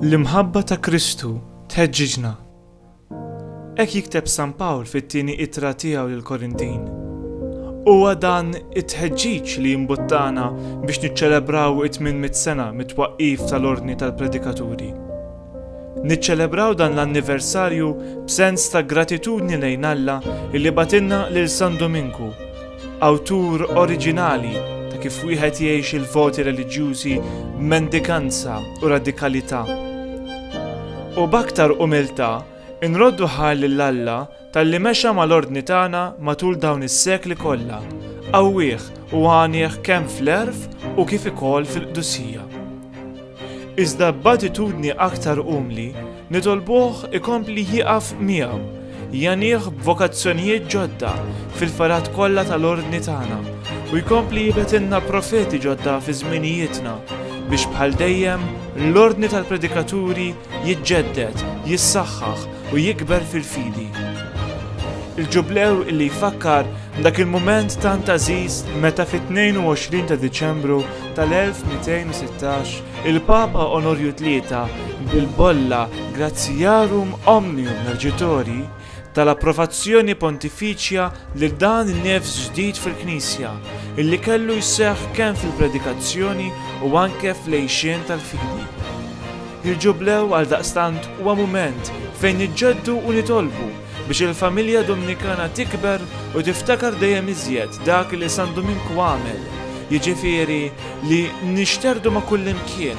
L-imħabba ta' Kristu tħeġġiġna. Hekk jikteb San Pawl fit-tieni ittra tiegħu lill-Korintin. Huwa dan it-tħeġġiġ li jimbuttana biex niċċelebraw it-800 sena mit-twaqqif tal-Ordni tal-Predikaturi. Niċċelebraw dan l-anniversarju b'sens ta' gratitudni lejn Alla li bagħtilna lil San Duminku, awtur oriġinali ta' kif wieħed jgħix il-voti reliġjużi b'mendikanza u radikalità. U b'aktar umiltà nroddu ħajr lil Alla Talli mexa mal-Ordni tagħna matul dawn is-sekli kollha, qawwih u għanieh kemm fl-għerf u kif ikoll fil-qdusija. Iżda b'attitudni aktar umli nitolbuh ikompli jieqaf miegħu, jgħanih b'vokazzjonijiet ġodda fil-fergħat kollha tal-Ordni tagħna u jkompli jibgħetilna profeti ġodda fi żminijietna biex bħal dejjem l-Ordni tal-Predikaturi jiġġedded, jissaħħaħ u jikber fil-fidi. Il-Ġublew li jfakkar dak il-mument tant għażiż meta fit-22 ta' Diċembru tal-1216 il-Papa Onorju Tlieta bil-bolla Gratiarum Omnium Mergitori tal-approvazzjoni pontifiċja lil dan in-nefs ġdid fil-Knisja, illi kellu jseħħ kemm fil-predikazzjoni u anke fl-għixien tal-fidi. Il-Ġublew għaldaqstant huwa mument fejn niġġeddu u nitolbu biex il-familja Dumnikana tikber u tiftakar dejjem iżjed dak li San Duminku għamel, jiġifieri li nixterdu ma' kullimkien,